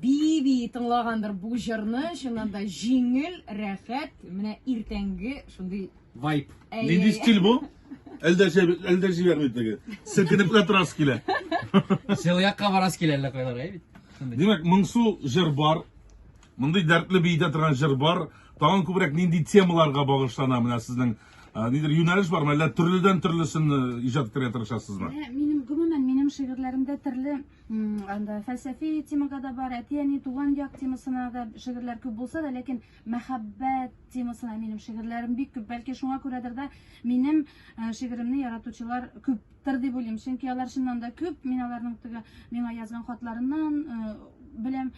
Бии-бии тыңлагандыр бу җырны, чыннан да җиңел, рәхәт, менә иртәнге шундый Вайп. Әй, Нинди әй. стиль бу? Әлдә җәб- әлдә җибәрми теге. Селкенеп кенә торасы килә. Сел якка барасы килә әллә кайлар, әй бит. Шундый. Димәк, моңсу җыр бар. Мондый дәртле биетә торган җыр бар. Тагын күбрәк нинди темаларга багышлана менә сезнең а, нидер юнәлеш бармы? Әллә төрледән төрлесен э, иҗат итәргә тырышасызмы? Ә, Минем гомумән минем шигырьләремдә төрле анда фәлсәфи темага да бар, әти-әни, туган як темасына да шигырьләр күп булса да, ләкин мәхәббәт темасына минем шигырьләрем бик күп. Бәлки шуңа күрәдер дә минем э, шигыремне яратучылар күптер дип уйлыйм. Чөнки алар чыннан да күп, мин аларның теге миңа язган хатларыннан э, беләм.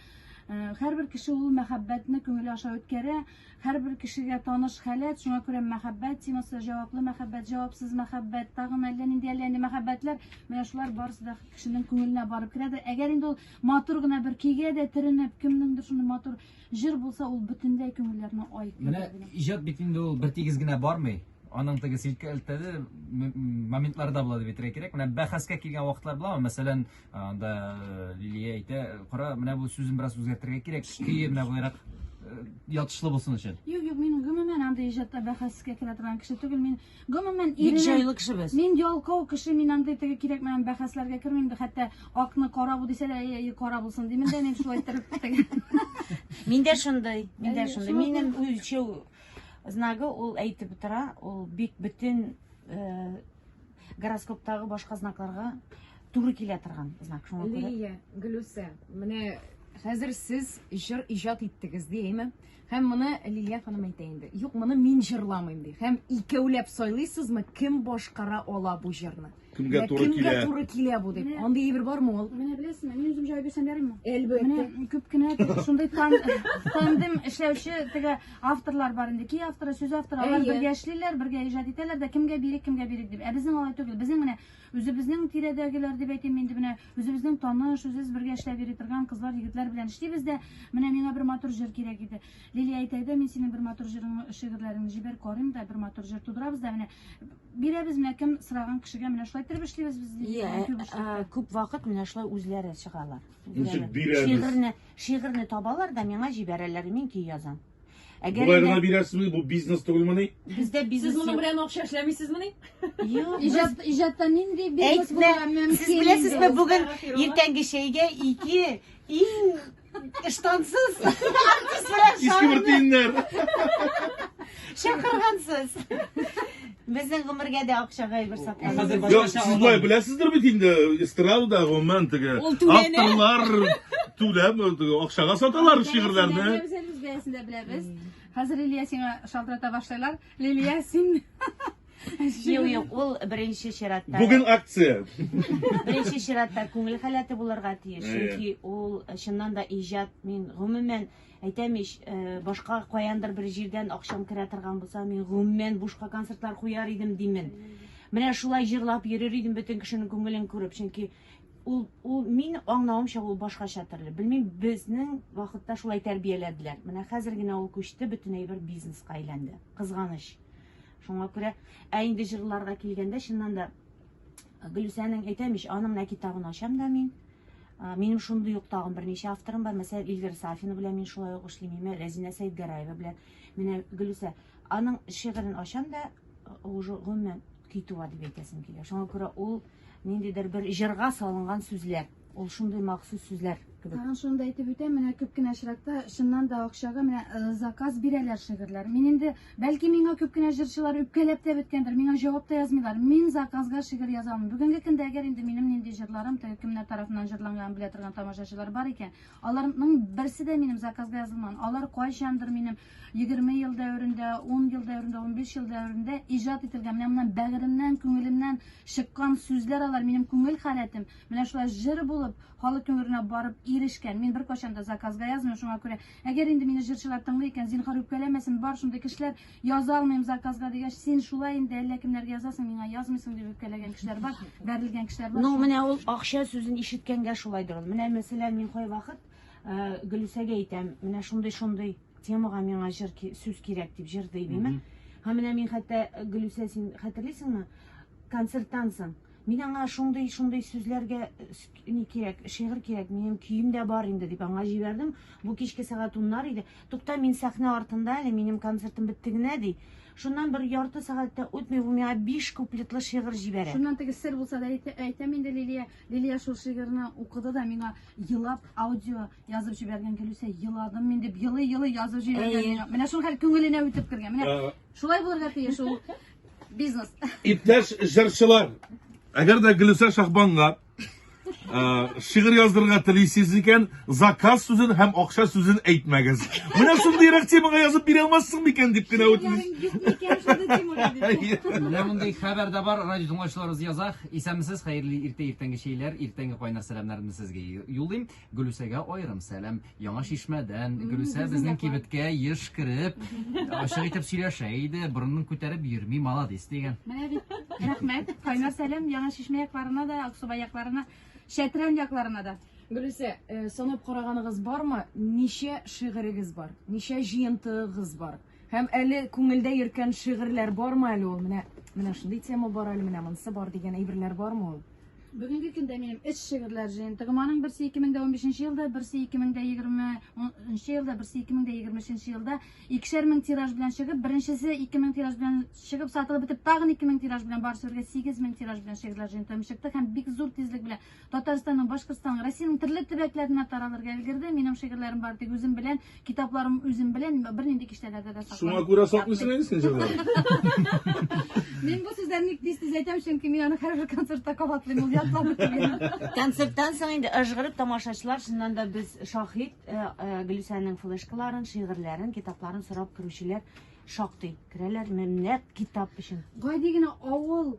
Э, һәрбер кеше ул мәхәббәтне күңеле аша үткәрә. Һәрбер кешегә таныш халәт, шуңа күрә мәхәббәт темасы, җаваплы мәхәббәт, җавапсыз мәхәббәт, тагын әллә нинди әллә нинди мәхәббәтләр, менә шулар барысы да кешенең күңеленә барып керә дә, әгәр инде ул матур гына бер көйгә дә төренеп, кемнеңдер шундый матур җыр булса, ул бөтенләй күңелләрне айкый. Менә иҗат бит инде ул бер тигез генә бармый аның теге селкәлтәде моментларда була дип әйтергә кирәк. Менә бәхәскә килгән вакытлар буламы? Мәсәлән, Анда э, Лилия әйтә, кара, менә бу сүзен бераз үзгәртергә кирәк, көе менә буларак э, ятышлы булсын өчен. Юк, юк, мин гомумән андый иҗатта бәхәскә керә торган кеше түгел. Мин гомумән Бик җайлы кеше без. Мин ялкау кеше, мин андый теге кирәкмәгән бәхәсләргә кермим дә, хәтта акны кара бу дисәләр, әй, әй, кара булсын димен дә, мин шулай иттереп теге. Мин дә шундый, мин дә шундый. Минем үлчәү знагы ул әйтеп тора, ул бик бөтен э, Гороскоптагы башка знакларга туры килә торган знак. Шуңа күрә Лилия, Гөлүсә, менә хәзер сез җыр иҗат иттегез ди, әйме? Һәм моны Лилия ханым әйтә инде. Юк, моны мин җырламыйм ди. Һәм икәүләп сайлыйсызмы, кем башкара ала бу җырны? Кемгә Менә туры кемгә килә? туры килә бу дип. Менә. Андый әйбер бармы ул? Менә беләсеңме, мин үзем җавап бирсәм ярыймы? Әлбәттә. Менә күп кенә теге шундый тан, тандем эшләүче теге авторлар бар инде кей авторы сүз авторы алар Әйе. бергә эшлиләр бергә иҗат итәләр дә кемгә бирик кемгә бирик дип ә безнең алай түгел безнең менә үзебезнең тирәдәгеләр дип әйтим инде менә үзебезнең таныш үзебез бергә эшләп йөри торган кызлар егетләр белән эшлибез дә менә миңа бер матур җыр кирәк иде лилия әйтәгедә мин синең бер матур җырың шигырьләреңне җибәр карыйм да бер матур җыр тудырабыз да менә бирәбез менә кем сораган кешегә менә шулай иттереп эшлибез без Лилия белән күп эшләп. күп вакыт менә шулай үзләре чыгалар Ничек бирәбез? Шигырьне, шигырьне табалар да миңа җибәрәләр, мин көй язам. Әгәр Болай гына бирәсезме? Бу бизнес түгелмени? Бездә бизнес Сез моның белән акча эшләмисезмени? Юк, иҗат иҗатта нинди бизнес булырга мөмкин? Сез беләсезме, бүген иртәнге чәйгә ике иң ыштансыз артист белән Иске бер тиеннәр. чакыргансыз. Безнең гомергә дә акчага әйбер сатмадыгыз. Хәзер Юк, башкача сез алам. болай беләсездер бит инде, эстрадада гомумән теге Ул түләнә. авторлар түләп теге акчага саталар шигырьләрне. Без әле үз бәясен дә беләбез. Хәзер Лилия сиңа шалтырата башлайлар. Лилия син Юк, юк, ул беренче чиратта. Бүген акция. Беренче чиратта күңел халәте булырга тиеш. Әйе. Чөнки ул чыннан да иҗат, мин гомумән Әйтәм ич, башка каяндыр бер җирдән акчам керә торган булса, мин гомумән бушка концертлар куяр идем димен. Менә шулай җырлап йөрер идем бөтен кешенең күңелен күреп, чөнки ул ул мин аңлавымча ул башкача төрле. Белмим, безнең вакытта шулай тәрбияләделәр. Менә хәзер генә ул күчте, бөтен әйбер бизнеска әйләнде. Кызганыч. Шуңа күрә, ә инде җырларга килгәндә, чыннан да Гөлүсәнең, әйтәм ич, аның менә китабын ачам да мин. А, Минем шундый ук тагын берничә авторым бар. Мәсәлән, Илгир Сафина белән мин шулай ук эшлим, имә Рәзинә Сәйдгәрәева белән. Менә Гөлүсә, аның шигырен ачам да, э, уже гомумән китү дип әйтәсем килә. Шуңа күрә ул ниндидер бер җырга салынган сүзләр. Ул шундый махсус сүзләр кебек. Тагын шуны да әйтеп үтәм, менә күп кенә очракта чыннан да акчага менә э, заказ бирәләр шигырьләр. Мин инде бәлки миңа күп кенә җырчылар үпкәләп тә беткәндер, миңа җавап та язмыйлар. Мин заказга шигырь яза алмыйм. Бүгенге көндә әгәр инде минем нинди җырларым теге кемнәр тарафыннан җырланганын белә торган тамашачылар бар икән, аларның берсе дә минем заказга язылмаган. Алар кайчандыр минем 20 ел дәверендә, 10 ел дәверендә, 15 ел дәверендә иҗат ителгән, менә моннан бәгыремнән, күңелемнән чыккан сүзләр алар, минем күңел халәтем. Менә шулай җыр булып, халык күңеленә барып ирешкән. Мин беркайчан да заказга язмыйм, шуңа күрә, әгәр инде мине җырчылар тыңлый икән, зинһар үпкәләмәсен, бар шундый кешеләр, яза алмыйм заказга дигәч, син шулай инде әллә кемнәргә язасың, миңа язмыйсың дип үпкәләгән кешеләр бар, бәрелгән кешеләр бар. Ну, менә ул акча сүзен ишеткәнгә шулайдыр ул. Менә мәсәлән, мин кайвакыт э, Гөлүсәгә әйтәм, менә шундый-шундый темага миңа җыр сүз кирәк дип җыр дибеме? Һәм менә мин хәтта Гөлүсә, син хәтерлисеңме? Концерттан соң Мин аңа шундый, шундый сүзләргә ни кирәк, шигырь кирәк, минем көем дә бар инде дип аңа җибәрдем. Бу кичке сәгать уннар иде. Тукта, мин сәхнә артында әле, минем концертым бетте генә, ди. Шуннан бер ярты сәгать тә үтми, ул миңа биш куплетлы шигырь җибәрә. Шуннан теге сер булса да әйтә- әйтәм инде Лилия. Лилия шул шигырьне укыды да миңа елап аудио язып җибәргән Гөлүсә, еладым мин дип елый-елый язып җибәргән Әйе. миңа. Менә шул хәл күңеленә үтеп кергән. Менә Ә, шулай булырга тиеш ул. Бизнес. Иптәш җырчылар, әгәр дә Гөлүсә Шахбанга ә, шигырь яздырырга телисез икән, заказ сүзен һәм акча сүзен әйтмәгез. Менә шундыйрак темага язып бирә алмассың микән дип кенә үтенәм. Менә мондый хәбәр дә бар, радио тыңлаучыларыбыз яза. Исәнмесез, хәерле иртә иртәнге чәйләр, иртәнге кайнар сәламнәрне сезгә юллыйм. Гөлүсәгә аерым сәлам. Яңа Чишмәдән. Гөлүсә безнең кибеткә еш кереп, ачык итеп сөйләшә иде, борынын күтәреп йөрми, маладис дигән. Менә бит. Рәхмәт. Кайнар сәлам Яңа Чишмә якларына да, Аксубай якларына, Чәтрән якларына да. Гөлүсә, э, санап караганыгыз бармы, ничә шигырегез бар? Ничә җыентыгыз бар? Һәм әле күңелдә йөрткән шигырьләр бармы әле ул? Менә менә шундый тема бар әле, менә монысы бар дигән әйберләр бармы ул? Бүгенге көндә минем эш шигырьләр җыентыгым. Аның берсе 2015 елда, берсе 2020 елда, берсе 2023 елда икешәр мең тираж белән чыгып, беренчесе 2000 тираж белән чыгып, сатылып бетеп, тагын 2000 тираж белән барысы бергә 8000 тираж белән шигырьләр җыентыгым чыкты һәм бик зур тизлек белән Татарстанның, Башкортстанның, Россиянең төрле төбәкләренә таралырга өлгерде. Минем шигырьләрем бар тик үзем белән, китапларым үзем белән, бернинди киштәләрдә дә сакланып. Шуңа күрә саклыйсың әни син җырларны. Мин бу сүзләрне ник тиз-тиз әйтәм, чөнки мин аны һәрбер концертта кабатлыйм, ул ятлап бетергән. Концерттан соң инде ыжгырып тамашачылар, чыннан да без шаһит, Гөлүсәнең флешкаларын, шигырьләрен, китапларын сорап керүчеләр шактый. Керәләр, менә нәкъ китап өчен. Гади генә авыл.